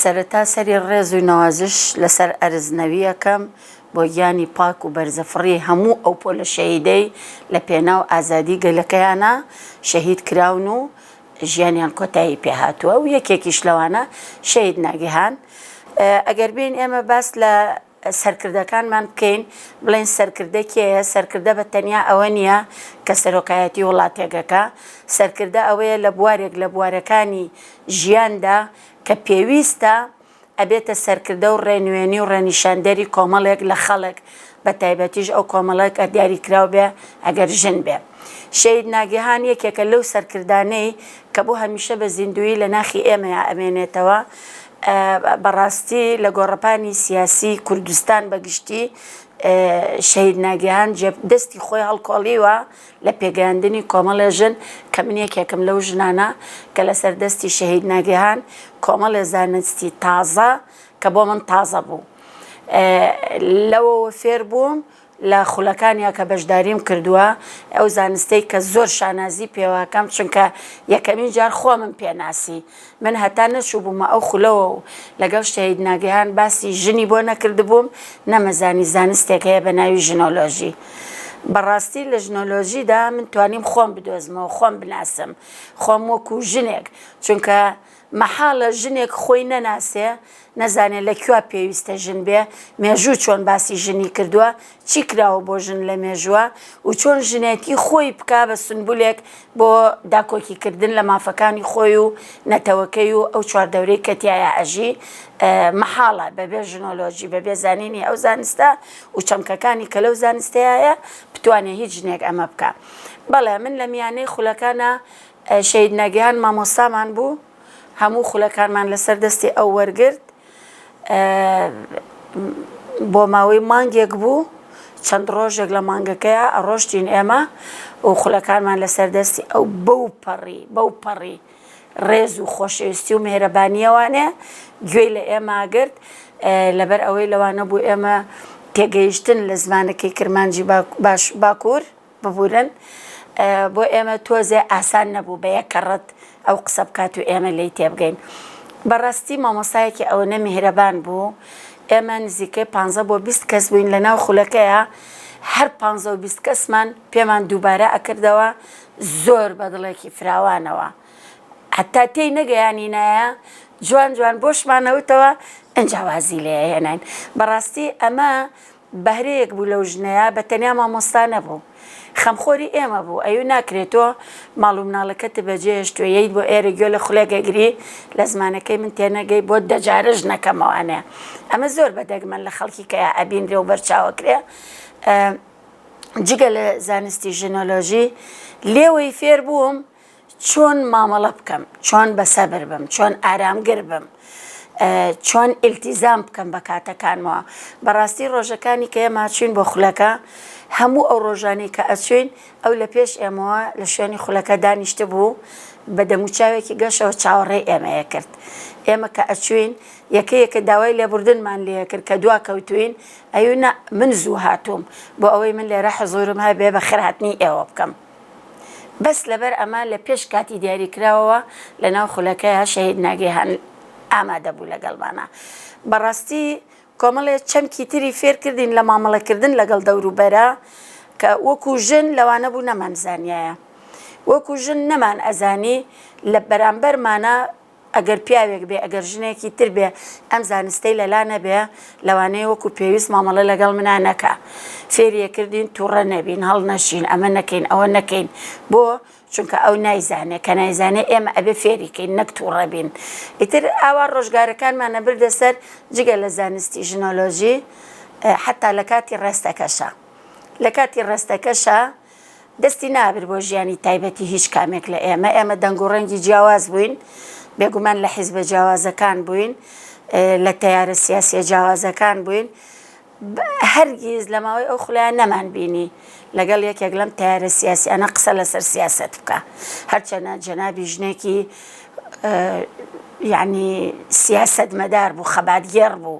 سەرەتا سەری ڕێز و نەوازش لەسەر ئەرز نەوی ئەکەم بۆ گیانی پاک و بەرزەفڕی هەموو ئەو پۆلە شەهیدەی لە پێناو ئازادی گەلەکەیانا شەهید کراون و ژیانیان کۆتایی پێ هاتووە و یەکێکیش لەوانە شەهید ناگیهان ئەگەر بێین ئێمە باس لە سەرکردەکانمان بکەین بڵێن سەرکردە کێیە سەرکردە بە تەنیا ئەوە نییە کە سەرۆکایەتی وڵاتێکەکە سەرکردە ئەوەیە لە بوارێک لە بوارەکانی ژیاندا کە پێویستە ئەبێتە سەرکردە و ڕێنوێنی و ڕێنیشاندەری کۆمەڵێک لە خەڵک بە تایبەتیش ئەو کۆمەڵێک کە دیاریکراو بێ ئەگەر ژن بێ شەید ناگیهان یەکێکە لەو سەرکردانەی کە بۆ هەمیشە بە زیندووی لە ناخی ئێمەیا ئەمێنێتەوە بەڕاستی لە گۆڕەپانی سیاسی کوردستان بە گشتی شەهید ناگیهان دەستی خۆی هەڵکۆڵیوە لە پێگەیاندنی کۆمەڵێ ژن کە من یەکێکم لەو ژنانە کە لەسەر دەستی شەهید ناگیهان کۆمەڵێ زانستی تازە کە بۆ من تازە بوو لەوەوە فێر بووم لە خولەکانیا کە بەشداریم کردووە، ئەو زانستەی کە زۆر شانازی پێوەکەم چونکە یەکەمین جار خۆمم پێناسی، من هەتا نەچووبوومە ئەو خولەوە و لەگەڵ شەهید ناگەهان باسی ژنی بۆ نەکردبووم نەمەزانی زانستێک هەیە بە ناوی ژنۆلۆژی. بەڕاستی لە ژنۆلۆژیدا من توانیم خۆم بدۆزمەوە، خۆم بناسم، خۆم وەکو ژنێک چونکە، مەحاڵە ژنێک خۆی نەناسێ نەزانێ لە کوا پێویستە ژن بێ مێژوو چۆن باسی ژنی کردووە چی کراوە بۆ ژن لە مێژووە و چۆن ژنێتی خۆی بکا بە سونبولێک بۆ داکۆکی کردن لە مافەکانی خۆی و نەتەوەکەی و ئەو چواردەورەی کە تیایا ئەژی مەحاڵە بەبێ ژنۆلۆژی بەبێ زانینی ئەو زانستە و چەمکەکانی کە لەو زانستەیایە بتوانێ هیچ ژنێک ئەمە بکا بەڵێ من لە میانەی خولەکانا شەهید ناگیهان مامۆستامان بوو هەموو خولەکانمان لەسەر دەستی ئەو وەرگرت بۆ ماوەی مانگێک بوو چەند ڕۆژێک لە مانگەکەیە ئەڕۆشتین ئێمە و خولەکانمان لەسەر دەستی ئەو بەو پەڕی بەو پەڕی ڕێز و خۆشەویستی و مهرەبانیەوانێ گوێی لە ئێماگرت لەبەر ئەوەی لەوانە بوو ئێمە تێگەیشتن لە زمانەکەی کرمانجی باش باکوور ببورن بۆ ئێمە تۆزێ ئاسان نەبوو بە یەک کەڕەت ئەو قسە بکات و ئێمە لێی تێبگەین بەڕاستی مامۆستایەکی ئەوەنە میهرەبان بوو ئێمە نزیکەی پانزە بۆ بیست کەس بووین لە ناو خولەکەیە هەر پانزە و بیست کەسمان پێمان دووبارە ئەکردەوە زۆر بە دڵێکی فراوانەوە حتا تێی نەگەیانی نایە جوان جوان بۆشمانەوتەوە ئەجاوازی لێ هێناین بەڕاستی ئەمە بەهرەیەک بوو لەو ژنەیا بە تەنیا مامۆستا نەبوو خەمخۆری ئێمە بوو ئەیوو ناکرێ تۆ ماڵ و مناڵەکەتت بە جێ هێشتووە یەیت بۆ ئێرە گوێ لە خولێک ئەگری لە زمانەکەی من تێ نەگەی بۆت دە جارە ژنەکەمەوە ئەنێ ئەمە زۆر بە دەگمەن لە خەڵکی کەیا ئەبینرێ و بەر چاو ئەکرێ جگە لە زانستی ژنۆلۆژی لێوەی فێر بووم چۆن مامەڵە بکەم، چۆن بە سەبر بم، چۆن ئارامگر بم، چۆن ئیلتیزام بکەم بە کاتەکانمەوە، بەڕاستی ڕۆژەکانی کە ئێمە ئەچووین بۆ خولەکە، هەموو ئەو ڕۆژانەی کە ئەچووین ئەو لە پێش ئێمەوە لە شوێنی خولەکە دانیشتبوو بە دەموچاوێکی گەشەوە چاوەڕێی ئێمە ئەکرد، ئێمە کە ئەچووین یەکە یەکە داوای لێبوردنمان لێ ئەکرد کە دوا کەوتووین، ئەیوو نا من زوو هاتووم بۆ ئەوەی من لێرە حزوورم هەبێ بە خێرهاتنی ئێوە بکەم. بەس لەبەر ئەمە لە پێش کاتی دیاری کراوەوە لە ناو خولەکەیا شەهید ناگیهان ئامادە بوو لەگەڵمانا بەڕاستی کۆمەڵێ چەمکی تری فێر کردین لە مامەڵە کردن لەگەڵ دەورو بەرا کە وەکو ژن لەوانە بوو نەمان زانیایە وەکو ژن نەمان ئەزانی لە بەرامبەرمانا ئەگەر پیاوێک بێ، ئەگەر ژنێکی تر بێ، ئەم زانستەی لە لا نەبێ، لەوانەیە وەکو پێویست مامەڵە لەگەڵ منا نەکا. فێری ئەکردین تووڕە نەبین، هەڵنەشین، ئەمە نەکەین، ئەوە نەکەین. بۆ؟ چونکە ئەو نایزانێ، کە نایزانێ ئێمە ئەبێ فێری کەین، نەک تووڕە بین. ئیتر ئاوا ڕۆژگارەکانمان ئەبردە سەر، جگە لە زانستی ژنۆلۆژی، حەتتا لە کاتی ڕێستەکەشا. لە کاتی ڕێستەکەشا. دەستی نابرد بۆ ژیانی تایبەتی هیچ کامێک لە ئێمە، ئێمە دەنگ و ڕەنگی جیاواز بووین، بێگومان لە حیزبە جیاوازەکان بووین، لە تەیارە سیاسیە جیاوازەکان بووین، هەرگیز لە ماوەی ئەو خولەیە نەمان بینی لەگەڵ یەکێک لەم تەیارە سیاسیانە قسە لەسەر سیاسەت بکا، هەرچەنە جەنابی ژنێکی یەعنی سیاسەتمەدار بوو، خەباتگێڕ بوو.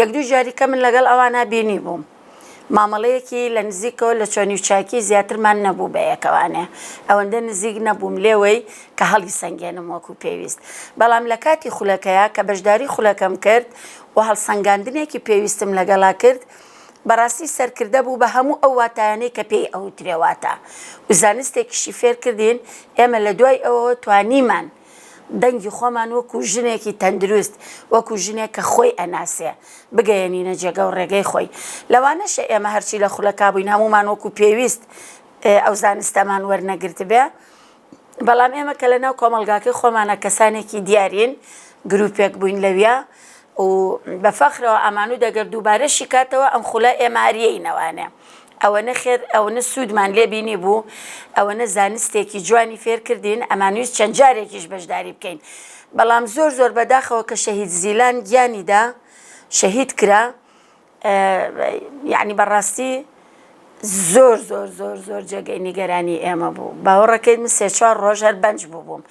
یەک دوو جاری کە من لەگەڵ ئەوانا بینی بووم مامەڵەیەکی لە نزیکەوە لە چۆنی و چاکی زیاترمان نەبوو بە یەکەوانێ ئەوەندە نزیک نەبووم لێوەی کە هەڵی سەنگێنم وەکو پێویست بەڵام لە کاتی خولەکەیا کە بەشداری خولەکەم کرد و هەڵسەنگاندنێکی پێویستم لەگەڵا کرد بەڕاستی سەرکردە بوو بە هەموو ئەو واتایانەی کە پێی ئەوترێ واتا و زانستێکیشی فێر کردین ئێمە لە دوای ئەوەوە توانیمان دەنگی خۆمان وەکو ژنێکی تەندروست، وەکو ژنێک کە خۆی ئەناسێ، بگەیەنینە جێگە و ڕێگەی خۆی. لەوانەشە ئێمە هەرچی لە خولەکا بووین هەموومان وەکو پێویست ئەو زانستەمان وەرنەگرتبێ، بەڵام ئێمە کە لەناو کۆمەڵگاکەی خۆمانا کەسانێکی دیارین، گروپێک بووین لەویا و بە فەخرەوە ئەمانوت ئەگەر دووبارەشی کاتەوە ئەم خولە ئێمە هەر یەینەوانێ. ئەوەنە خێر ئەونە سوودمان لێ بینی بوو ئەوەنە زانستێکی جوانی فێرکردین ئەمانویست چەند جارێکیش بەشداری بکەین بەڵام زۆر زۆر بەداخەوە کە شەهید زیلان گیانیدا شەهید کرا یعنی بەڕاستی زۆر زۆر زۆر زۆر جێگەی نیگەرانی ئێمە بوو باوەڕەکەی من سێ چوار ڕۆژ هەر بەنج بووبووم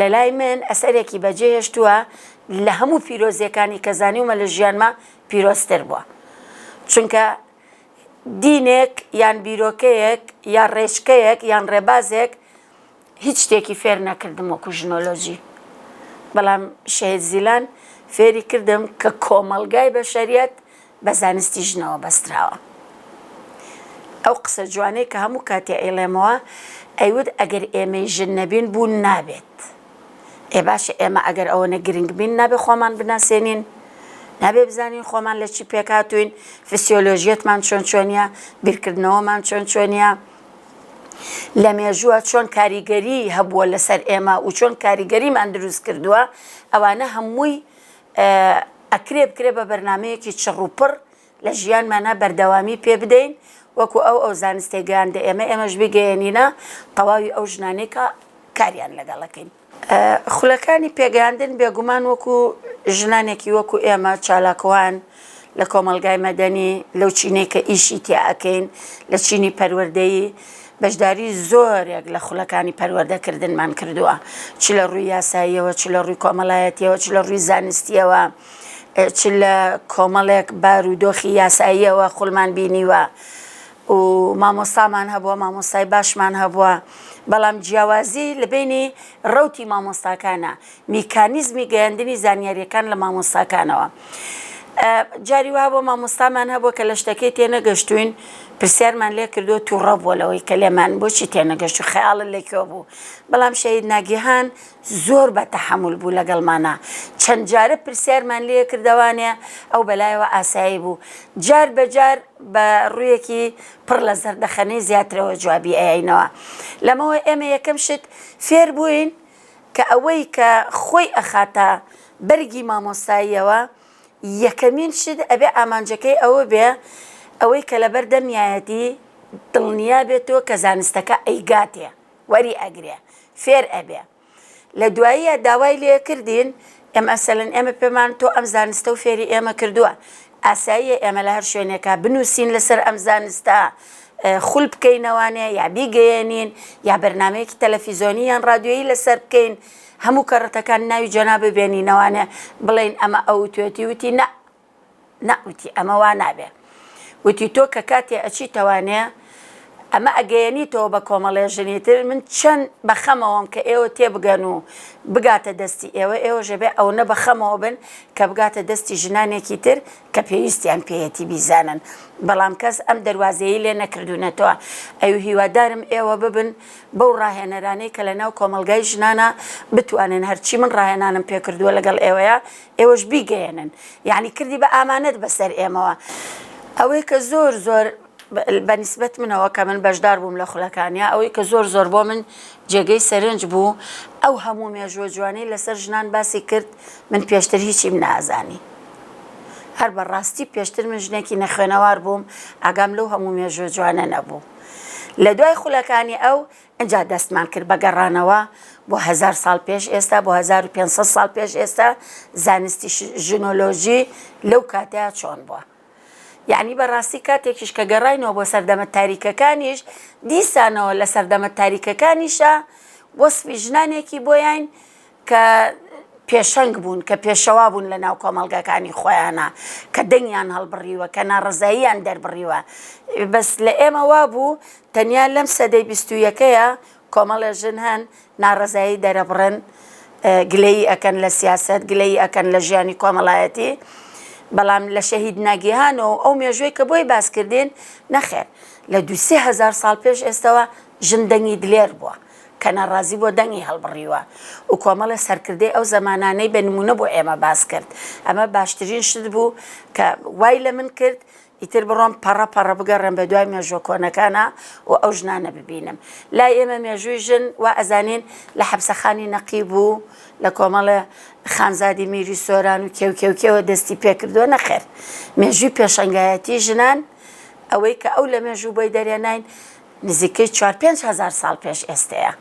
لەلای من ئەسەرێکی بەجێ هێشتووە لە هەموو پیرۆزیەکانی کە زانیومە لە ژیانما پیرۆزتر بووە چونکە دینێک یان بیرۆکەیەک یا ڕێچکەیەک یان ڕێبازێک هیچ شتێکی فێر نەکردم وەکو ژنۆلۆژی بەڵام شەید زیلان فێری کردم کە کۆمەلگای بە شەریەت بە زانستی ژنەوە بەستراوە ئەو قسە جوانەی کە هەموو کاتێ ئەیڵێمەوە ئەیوت ئەگەر ئێمەی ژن نەبین بوون نابێت ئێ باشە ئێمە ئەگەر ئەوەنە گرنگ بین نابێ خۆمان بناسێنین نابێ بزانین خۆمان لە چی پێکاتوین فسیۆلۆژیەتمان چۆن چۆنیە بیرکردنەوەمان چۆن چۆنیە لە مێژووە چۆن کاریگەری هەبووە لەسەر ئێمە و چۆن کاریگەریمان دروست کردووە ئەوانە هەمووی ئەکرێ بکرێ بە بەرنامەیەکی چڕ و پڕ لە ژیانمانا بەردەوامی پێ بدەین وەکو ئەو ئەو زانستەی گەیاندە ئێمە ئێمەش بیگەیەنینە تەواوی ئەو ژنانەی کە کاریان لەگەڵ ئەکەین. خولەکانی پێگەیاندن بێگومان وەکو ژنانێکی وەکو ئێمە چالاکوان، لە کۆمەڵگای مەدەنی، لەو چینەی کە ئیشی تیا ئەکەین، لە چینی پەروەردەیی، بەشداری زۆرێک لە خولەکانی پەروەردەکردنمان کردووە، چ لە ڕووی یاساییەوە، چ لە ڕووی کۆمەڵایەتییەوە، چ لە ڕووی زانستییەوە، چ لە کۆمەڵێک بارودۆخی یاساییەوە خولمان بینیوە و مامۆستامان هەبووە، مامۆستای باشمان هەبووە، بەڵام جیاوازی لە بەینی ڕەوتی مامۆستاکانا، میکانیزمی گەیاندنی زانیاریەکان لە مامۆستاکانەوە جاری وا بۆ مامۆستامان هەبوو کە لە شتەکەی تێنەگەشتوین پرسیارمان لێ کردو تووڕە بووە لەوەی کە لێمان بۆچی تێنەگەشت و خەیاڵە لەکوێ بوو بەڵام شەید ناگیهان زۆر بە تەحمل بوو لەگەڵمانە چەند جارە پرسیارمان لێ کردوانێ ئەو بەلایەوە ئاسایی بوو جار بەجار بە ڕوویەکی پڕ لە زەردەخەنەی زیاترەوە جوابی ئەینەوە لەمەوە ئێمە یەکەم شت فێر بووین کە ئەوەی کە خۆی ئەخاتە بەرگی مامۆستاییەوە یەکەمین شت ئەبێ ئامانجەکەی ئەوە بێ ئەوەی کە لە بەر دەمیایەتی دڵنیا بێتەوە کە زانستەکە ئەیگاتێ وەری ئەگرێ فێر ئەبێ لە دواییە داوای لێ کردین ئێمە ئەسەلن ئێمە پێمان تۆ ئەم زانستە و فێری ئێمە کردووە ئاساییە ئێمە لە هەر شوێنێکا بنووسین لەسەر ئەم زانستە خول بکەینەوانێ یا بیگەیەنین یا بەرنمەیەکی تەلەفیزۆنی یان ڕادیۆیی لەسەر بکەین هەموو کەڕەتەکان ناوی جەنابە بێنینەوانێ بڵین ئەمە ئەو توێتی وتی نە نا وتی ئەمە وا نابێ وتی تۆ کە کاتێ ئەچیتەوانێ ئەمە ئەگەیەنیتەوە بە کۆمەڵێ ژنی تر من چەند بە خەمەوەم کە ئێوە تێ بگەن و بگاتە دەستی ئێوە ئێوەش ئەبێ ئەونە بە خەمەوە بن کە بگاتە دەستی ژنانێکی تر کە پێویستیان پێیەتی بیزانن بەڵام کەس ئەم دەروازەیی لێ نەکردوونەتەوە ئەو هیوادارم ئێوە ببن بەو ڕاهێنەرانەی کە لەناو کۆمەڵگای ژنانە بتوانن هەرچی من ڕاهێنانم پێکردووە لەگەڵ ئێوەیە ئێوەش بیگەیەنن یانی کردی بە ئامانەت بەسەر ئێمەوە ئەوەی کە زۆر زۆر بە نسبەت منەوە کە من بەشدار بووم لە خولەکانیا ئەوەی کە زۆر زۆر بۆ من جێگەی سەرنج بوو ئەو هەموو مێژوە جوانی لەسەر ژنان باسی کرد من پێشتر هیچیم نازانی هەر بە ڕاستی پێشتر من ژنێکی نەخوێنەوار بووم ئاگام لەو هەموو مێژوە جوانە نەبوو لە دوای خولەکانی ئەو ئینجا دەستمان کرد بە گەڕانەوە بۆ هەزار ساڵ پێش ئێستا، بۆ هەزار و پێنج سەد ساڵ پێش ئێستا، زانستی ژنۆلۆژی لەو کاتەیا چۆن بووە. یەعنی بە ڕاستی کاتێکیش کە گەڕاینەوە بۆ سەردەمە تاریکەکانیش، دیسانەوە لە سەردەمە تاریکەکانیشا وەسفی ژنانێکی بۆیاین کە پێشەنگ بوون، کە پێشەوا بوون لە ناو کۆمەڵگاکانی خۆیانا، کە دەنگیان هەڵبڕیوە، کە ناڕەزاییان دەربڕیوە. بەس لە ئێمە وا بوو تەنیا لەم سەدەی بیست و یەکەیا کۆمەڵێ ژن هەن ناڕەزایی دەرەبڕن، گلەیی ئەکەن لە سیاسەت، گلەیی ئەکەن لە ژیانی کۆمەڵایەتی. بەڵام لە شەهید ناگیهان و ئەو مێژووەی کە بۆی باس کردین، نەخێر لە دوو سێ هەزار ساڵ پێش ئێستەوە ژن دەنگی دلێر بووە. کە ناڕازی بۆ دەنگی هەڵبڕیوە و کۆمەڵێ سەرکردەی ئەو زەمانانەی بە نموونە بۆ ئێمە باس کرد. ئەمە باشترین شت بوو کە وای لە من کرد ئیتر بڕۆم پەڕە پەڕە بگەڕێم بە دوای مێژووە کۆنەکانا و ئەو ژنانە ببینم. لای ئێمە مێژووی ژن وا ئەزانین لە حەپسەخانی نەقیب و لە کۆمەڵێ خانزادی میری سۆران و کێو کێو کێوە دەستی پێ کردووە، نەخێر مێژووی پێشەنگایەتی ژنان ئەوەی کە ئەو لە مێژوو بۆی دەرێناین، نزیکەی چوار پێنج هەزار ساڵ پێش ئێستەیە.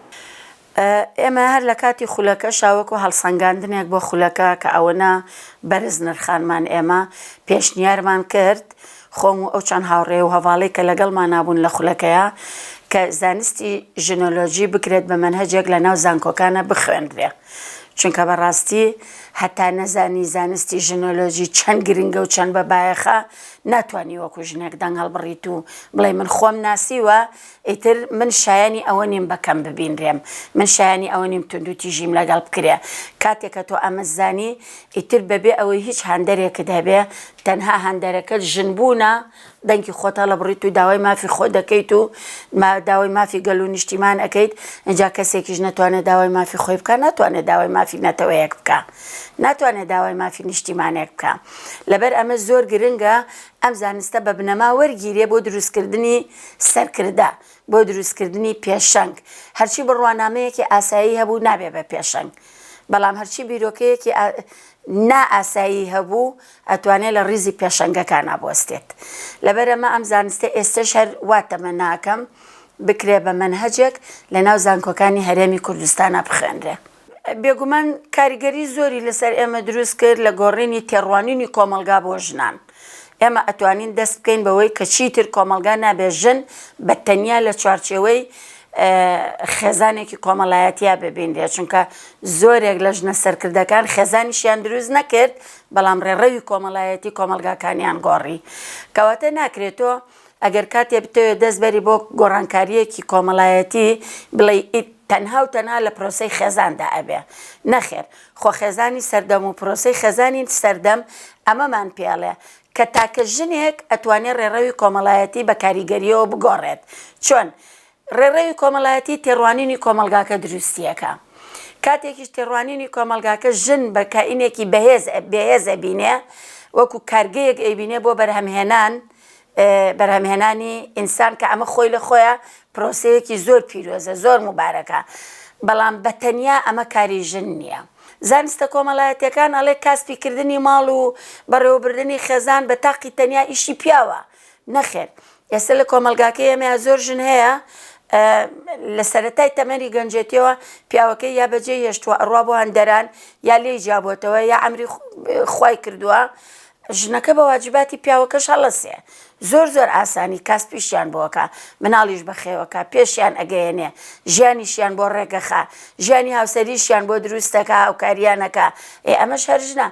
ئێمە هەر لە کاتی خولەکەشا وەکو هەڵسەنگاندنێک بۆ خولەکە کە ئەوەنە بەرز نرخانمان ئێمە، پێشنیارمان کرد، خۆم و ئەو چەند هاوڕێ و هەڤاڵەی کە لەگەڵمانا بوون لە خولەکەیا، کە زانستی ژنۆلۆژی بکرێت بە مەنهەجێک لە ناو زانکۆکانا بخوێنرێ. چونکە بە ڕاستی هەتا نەزانی زانستی ژنۆلۆژی چەند گرنگە و چەند بە بایەخە، ناتوانی وەکو ژنێک دەنگ هەڵبڕیت و بڵێی من خۆم ناسیوە ئیتر من شایەنی ئەوە نیم بەکەم ببینرێم من شایەنی ئەوە نیم توندو تیژیم لەگەڵ بکرێ کاتێکە تۆ ئەمە زانی ئیتر بەبێ ئەوەی هیچ هەندەرێکت هەبێ تەنها هەندەرەکەت ژن بوونە دەنگی خۆت هەڵەبڕیت و داوای مافی خۆ دەکەیت و داوای مافی گەل و نیشتیمان ئەەکەیت ئەجا کەسێکیش نەتوانێت داوای مافی خۆی بکە ناتوانێت داوای مافی نەتەوەیەک بکە ناتوانێت داوای مافی نیشتیمانێک بکا لەبەر ئەمە زۆر گرنگە ئەم زانستە بە بنەما وەرگیرێ بۆ دروستکردنی سەرکردە بۆ دروستکردنی پێشەنگ هەرچی بڕوانامەیەکی ئاسایی هەبوو نابێ بە پێشەنگ بەڵام هەرچی بیرۆکەیەکی نا ئاسایی هەبوو ئەتوانێت لە ڕیزی پێشەنگەکان ئابوەستێت لەبەرەمە ئەم زانستە ئێستش هەر واتەمە ناکەم بکرێ بە منهجێک لە ناو زانکۆکانی هەرێمی کوردستانە بخوێنرێ بێگومان کاریگەری زۆری لەسەر ئێمە دروست کرد لە گۆڕینی تێڕوانینی کۆمەڵگا بۆ ژنان. ئێمە ئەتوانین دەست بکەین بەوەی کە چیتر کۆمەڵگا نابێت ژن بە تەنیا لە چوارچێوەی خێزانێکی کۆمەڵایەتیا ببینرێت، چونکە زۆرێک لە ژنە سەرکردەکان خێزانیشیان دروست نەکرد، بەڵام ڕێڕەوی کۆمەڵایەتی کۆمەڵگاکانیان گۆڕی. کەواتە ناکرێت تۆ ئەگەر کاتێ بتەوێ دەست بەری بۆ گۆڕانکارییەکی کۆمەڵایەتی بڵێی ئیت تەنها و تەنها لە پرۆسەی خێزاندا ئەبێ. نەخێر. خۆ خێزانی سەردەم و پرۆسەی خێزانی سەردەم ئەمەمان پێ ئەڵێ کە تاکە ژنێک ئەتوانێ ڕێڕەوی کۆمەڵایەتی بە کاریگەرییەوە بگۆڕێت. چۆن؟ ڕێڕەوی کۆمەڵایەتی تێڕوانینی کۆمەڵگاکە دروستیەکە، کاتێکیش تێڕوانینی کۆمەڵگاکە ژن بە کائینێکی بەهێز بێهێز ئەبینێ وەکو کارگەیەک ئەیبینێ بۆ بەرهەمهێنان بەرهەمهێنانی ئینسان کە ئەمە خۆی لە خۆیا پرۆسەیەکی زۆر پیرۆزە زۆر موبارەکە بەڵام بە تەنیا ئەمە کاری ژن نیە زانستە کۆمەڵایەتیەکان ئەڵێ کاسپی کردنی ماڵ و بەڕێوەبردنی خێزان بە تاقی تەنیا ئیشی پیاوە نەخێر ئێستا لە کۆمەڵگاکەی ئێمەیا زۆر ژن هەیە لە سەرەتای تەمەنی گەنجێتیەوە پیاوەکەی یا بەجێ هێشتووە ئەڕوا بۆ هەندەران یا لێی جابووتەوە یا ئەمری خی کردووە ژنەکە بە واجباتی پیاوەکەش هەڵەسێ زۆر زۆر ئاسانی کاس پیشیان بۆکە مناڵیش بەخێوەکە پێشیان ئەگەیەنێ ژیانیشیان بۆ ڕێگەخە ژیانی هاوسەریشیان بۆ دروستەکە هاوکاریانەکە ئێ ئەمەش هەرژنە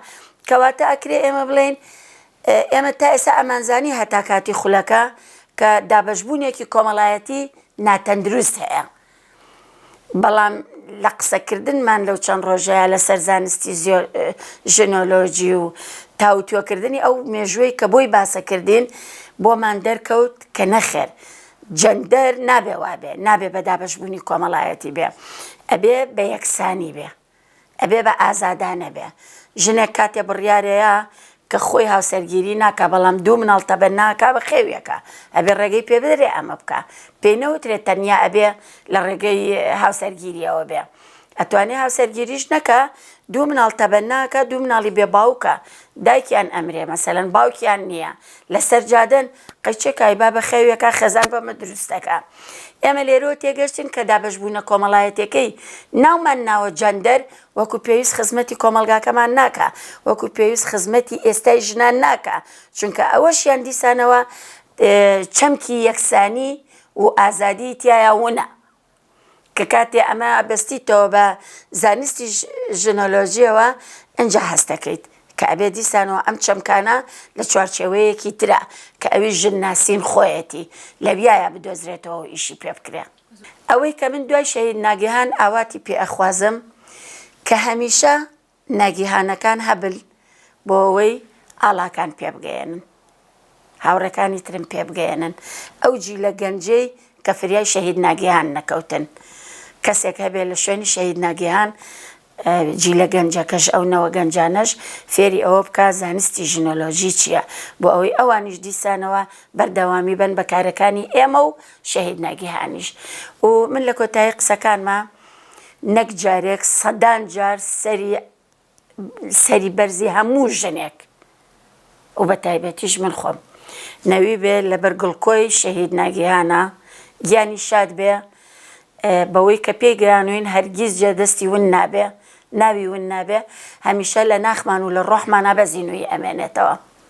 کەواتە ئەکرێ ئێمە بڵێن ئێمە تا ئێستا ئەمانزانی هەتا کاتی خولەکە کە دابەشبوونێکی کۆمەڵایەتی ناتەندروست هەیە، بەڵام لە قسەکردنمان لەو چەند ڕۆژەیا لەسەر زانستی ژنۆلۆژی و تاوتوێکردنی ئەو مێژووەی کە بۆی باسە کردین، بۆمان دەرکەوت کە نەخێر، جەندەر نابێ وابێ، نابێ بە دابەشبوونی کۆمەڵایەتی بێ، ئەبێ بە یەکسانی بێ. ئەبێ بە ئازادانە بێ. ژنێک کاتێ بڕیارێیا کە خۆی هاوسەرگیری ناکا بەڵام دوو مناڵ تەبەن ناکا بە خێویەکە ئەبێ ڕێگەی پێ بدرێ ئەمە بکا. پێی نەوترێ تەنیا ئەبێ لە ڕێگەی هاوسەرگیریەوە بێ. ئەتوانێ هاوسەرگیریش نەکا دوو مناڵ تەبەن ناکا دوو مناڵی بێ باوکە دایکیان ئەمرێ مەسەلەن باوکیان نیە لە سەر جادەن، قەیچێک کایبا بە خەوێکا خێزان بەمە دروست دەکا. ئێمە لێرەوە تێگەشتین کە دابەشبوونە کۆمەڵایەتیەکەی ناومان ناوە جەندەر وەکو پێویست خزمەتی کۆمەڵگاکەمان ناکا، وەکو پێویست خزمەتی ئێستای ژنان ناکا، چونکە ئەوەشیان دیسانەوە چەمکی یەکسانی و ئازادی تیایا ونە. کە کاتێ ئەمە ئەبەستیتەوە بە زانستی ژنۆلۆژیەوە ئینجا هەست دەکەیت کە ئەبێ دیسانەوە ئەم چەمکانە لە چوارچێوەیەکی ترا کە ئەویش ژن ناسین خۆیەتی لەویایە بدۆزرێتەوەو ئیشی پێ بکرێ. ئەوەی کە من دوای شەهید ناگیهان ئاواتی پێ ئەخوازم کە هەمیشە ناگیهانەکان هەبن بۆ ئەوەی ئاڵاکان پێبگەیەنن هاوڕێکانی ترم پێبگەیەنن ئەو جیلە گەنجەی کە فریای شەهید ناگیهان نەکەوتن کەسێک هەبێ لە شوێنی شەهید ناگیهان جیلە گەنجەکەش ئەو نەوە گەنجانەش فێری ئەوە بکە زانستی ژنۆلۆژی چییە بۆ ئەوەی ئەوانیش دیسانەوە بەردەوامی بن بە کارەکانی ئێمە و شەهید ناگیهانیش و من لە کۆتایی قسەکانمە نەک جارێک سەدان جار سەری سەری بەرزی هەموو ژنێک و بە تایبەتیش من خۆم نەوی بێ لەبەر گڵکۆی شەهید ناگیهانە گیانی شاد بێ بەوەی کە پێی گەیانوین هەرگیز جێ دەستی ون نابێ ناوی ون نابێ هەمیشە لە ناخمان و لە ڕۆحمانە بەزینوی ئەمێنێتەوە